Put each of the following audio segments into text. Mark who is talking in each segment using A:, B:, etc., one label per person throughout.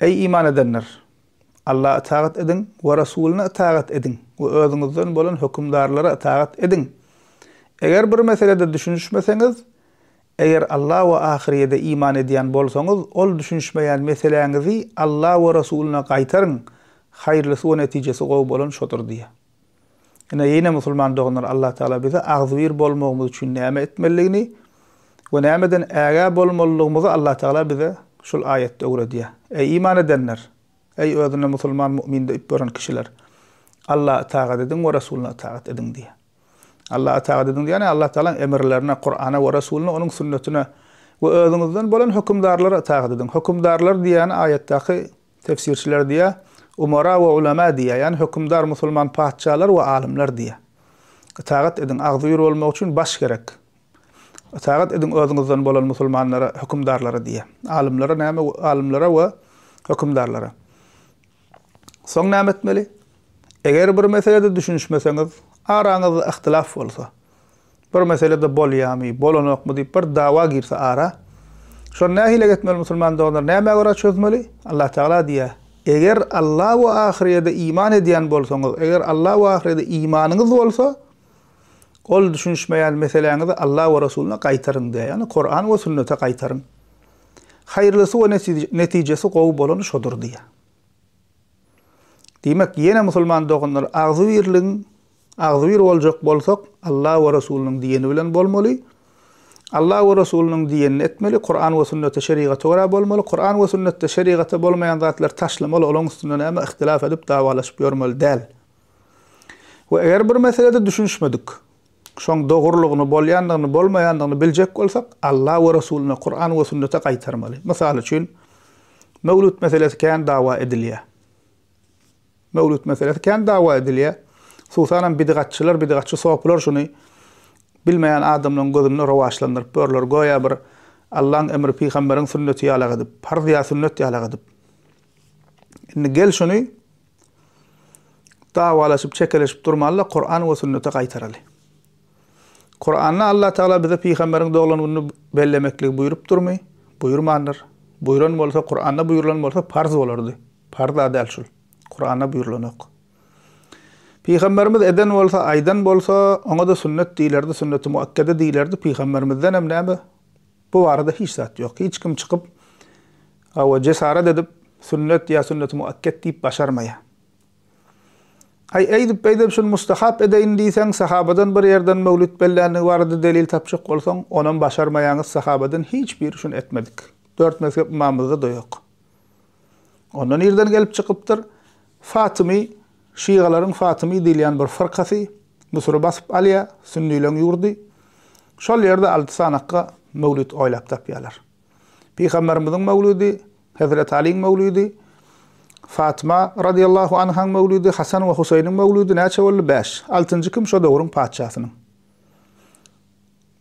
A: Eý, iman edenler! Alla ytagat ediň we Resulyna ytagat ediň we özüňizden bolan hökümdarlara ytagat ediň. Eger bir meselede düşünişmeseňiz, eger Alla we ahyrýede iman edýän bolsaňyz, ol düşünişmeýän meseläňizi Alla we Resulyna gaýtaryň, haýyrlysy we netijesi gowy bolan şodur diýýär. Ine, ýene musulman doganlar, Allah Tagala bize agzybir bolmagymyz üçin näme etmelidigini we nämeden ägä bolmalydygymyzy Allah Tagala bize şul aýatda öwredýär. Eý iman edenler! Eý özüne musulman mu'min diýip ýören kişiler! Allaha itagat ediň we Resulyna itagat ediň diýýär. Allaha itagat ediň diýýär, ýagny Allah Tagalaň emirlerine, Kur'ana we Resulyna, onuň sünnetine we özüňizden bolan hökümdarlara itagat ediň. Hökümdarlar diýýäni aýatdaky Tefsirçiler diýýär, Umara we ulema diýýär, ýagny hökümdar, musulman patyşalar we alymlar diýýär. Ytagat ediň, agzybir bolmak üçin baş gerek. Ytagat ediň özüňizden bolan musulmanlara, hökümdarlara diýýär. Alymlara näme, alymlara we hökümdarlara. Soň näme etmeli? Eger bir meselede düşünişmeseňiz, araňyzda yhtylaf bolsa, Bir meselede bolýamy, bolanokmy diýip bir dawa girse ara, şony nähili etmeli musulman doganlar, nämä görä çözmeli? Allah Tagala diýýär, Eger Alla we ahyrýede iman edýän bolsaňyz, eger Alla we ahyrýede imanyňyz bolsa, ol düşünişmeýän meseläňizi Alla we Resulyna gaýtaryň diýýär, ýagny Kuran we sünnete gaýtaryň. Haýyrlysy we netijesi gowy bolany şodur diýýär. Diýmek, ýene musulman doganlar agzybirligiň Agzybir boljak bolsak, Alla we Resulynyň diýeni bilen bolmaly. Alla we Resulynyň diýenini etmeli, Kuran we Sünnete, Şerigata görä bolmaly. Kuran we Sünnetde, Şerigatda bolmaýan zatlary taşlamaly, olaň üstünde näme yhtylaf edip, dawalaşyp ýörmeli däl. We eger bir meselede düşünişmedik, şoň dogrulygyny, bolýandygyny, bolmaýandygyny biljek bolsak, Alla we Resulyna, Kuran we Sünnete gaýtarmaly. Mysal üçin, Möwlüt meselesi kän dawa edilýär. Möwlüt meselesi kän dawa edilýär. Hususanam bidgatçylar, bidgatçy sopylar şuny bilmeýän adamlaryň gözünde rowaçlandyryp ýörler, göýä bir Allaň emri, pygamberiň sünneti ýalak edip, parz ýa sünnet ýalak edip. Indi gel şuny dawalaşyp, çekeleşip durmaly-da, Kuran we sünnete gaýtaraly. Kuranda Allah Tagala bize pygamberiň doglan gününi bellemekligi buýrupdyrmy? Buýurmandyr. Buýran bolsa, Kuranda buýrulan bolsa parz bolardy. Parz-a däl şul. Kuranda buýrulanok. Pygamberimiz eden bolsa, aýdan bolsa, oňa-da sünnet diýilerdi, sünneti muakkede diýilerdi, pygamberimizdenem näme? Bu barada hiç zat ýok. Hiç kim çykyp, hawa, jesaret edip, sünnet ýa sünneti muakket diýip başarmaýar. Aý, eýdip, beýdip şuny mustahap edeýin diýseň, sahabadan bir ýerden möwlüt bellänligi barada delil tapjak bolsaň, onam başarmaýaňyz, sahabadan hiç biri şuny etmedik. Dört mezhep ymamymyzda-da ýok. Onda nirden gelip çykypdyr? Fatymy, şygalaryň Fatymy diýilýän bir fyrkasy Müsüri basyp alýar, sünnileň ýurdy. Şol ýerde alty sanakga möwlüt oýlap tapýarlar. Pygamberimiziň möwlüdi, Hezreti Aliň möwlüdi, Fatyma radiyallahu anhaň möwlüdi, Hasan we Husaýynyň möwlüdi näçe boldy? Bäş. Altynjy kim? Şo döwrüň patyşasynyň.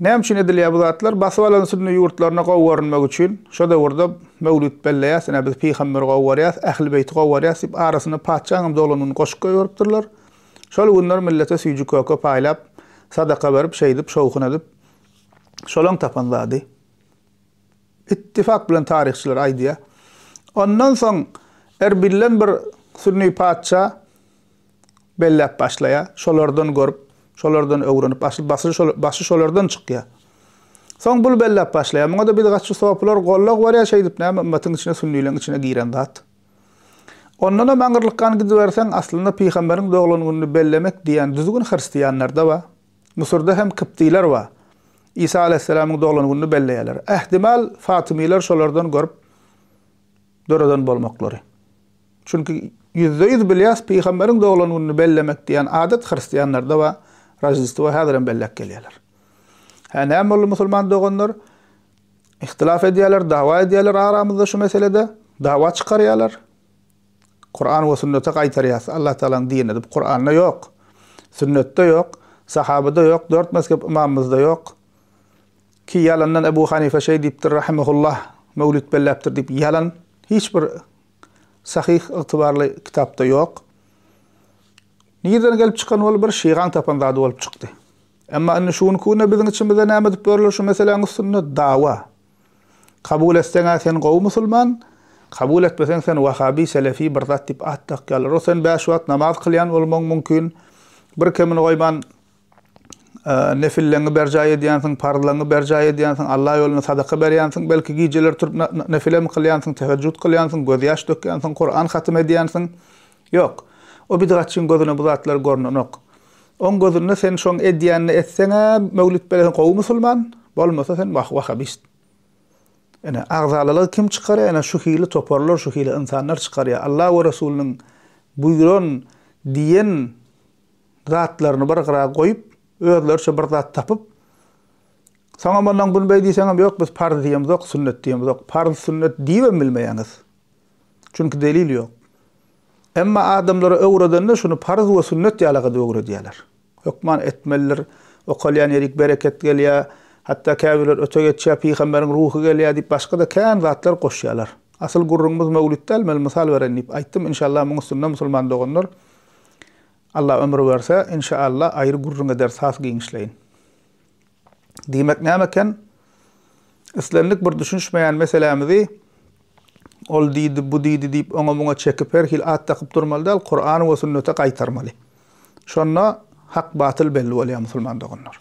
A: Näme üçin edilýär bu zatlar? Basyp alan sünni ýurtlaryna gowy görünmek üçin şo döwürde möwlüt belleýär, ine biz pygamberi gowy görýäs, ähli beýti gowy görýäs diýip arasyna patyşaň hem dolandygyny goşup goýberipdirler. Şol günler millete süýji köke paýlap, sadaka berip, şeýdip, şowhun edip, şolaň tapan zady. Ittifak bilen taryhçylar aýdýar. Ondan soň Erbilden bir sünni patyşa belläp başlaýar. Şolardan görüp, şolardan öwrenip, asyl başy şolardan çykýar. Soň bul belläp başlaýar. Muňa-da biz gaçy sopular gollag berýär, şeýdip näme ymmatyň içine sünnileň içine giren zat. Ondanam aňyrlykgan gidiberseň, aslynda pygamberiň doglan gününi bellemek diýen düzgün hristianlarda bar. Müsürde hem kyptylar bar. Isa alaýhyssalamyň doglan gününi belleýärler. Ähtimal, fatymylar şolardan görüp döreden bolmaklary. Çünki ýüzde-ýüz bilýäs, pygamberiň doglan gününi bellemek diýen adat hristianlarda bar, Roždestwo häzirem belläp gelýärler. Hä, näme boldy musulman doganlar? Ihtilaf edýärler, dawa edýärler aramyzda şu meselede, dawa çykarýarlar. Kuran we sünnete gaýtarýas. Allatagalaň dini edip Kuranda ýok. Sünnetde ýok. Sahabada ýok. Dört mezhep ymamymyzda ýok. Ki ýalandan Ebu Hanife şeý diýipdir rahimehullah möwlüt belläpdir diýip ýalan hiç bir sahyh ygtybarly kitapda ýok. Nirden gelip çykan ol bir şygaň tapan zady bolup çykdy. Emma indi şu günki günde biziň içimizde näme edip ýörler şu meseläň üstünde dawa. Kabul etseň-ä sen gowy musulman, kabul etmeseň sen wahabi, selefi bir zat diýip at dakýarlar. O sen bäş wagt namaz kylýan bolmagyň mümkin, bir kemini goýman nefilleňňi berjaý edýänsiň, parzlaňňy berjaý edýänsiň, Alla ýolunda sadaka berýänsiň, belki gijeler turup nefilem kylýansyň, tehežjüt kylýansyň, gözýaş dökýänsiň, Kuran hatym edýänsiň. Ýok, o bidgatçyň gözüne bu zatlar gornenok. Oň gözünde sen şoň edýänini etseň-ä, möwlüt beleň gowy musulman, bolmasa sen wah, wahabist. Ine, agzalalygy kim çykarýar? Ine, şu hili toparlar, şu hili ynsanlar çykarýar. Alla we Resulynyň buýran, diýen zatlaryny bir gyra goýup, özleriçe bir zat tapyp, soňam ondan günbeý diýseňem, ýok, biz parz diýemizok, sünnet diýemizok. Parz, sünnet diýibem bilmeýäňiz. Çünki delil ýok. Emma adamlara öwredende şuny parz we sünnet ýaly gydyp öwredýärler. Hökman etmelidir, okalýan ýerik bereket gelýär, hatda käbirler öte geçýär, pygamberiň ruhy gelýär diýip başga-da kän zatlar goşýarlar. Asyl gürrüňimiz möwlüt däl, men mysal bereýin diýip aýtdym, inşallah muň üstünde musulman doganlar Allah ömür berse, inşallah aýry gürrüň ederis has giňişleýin. diýmek näme eken? Islendik bir düşünişmeýän meselämizi ol diýdi, bu diýdi diýip oňa-muňa çekip her hili at dakyp durmaly däl, Kur'an we sünnete gaýtarmaly. Şonda hak batyl belli bolýar musulman doganlar.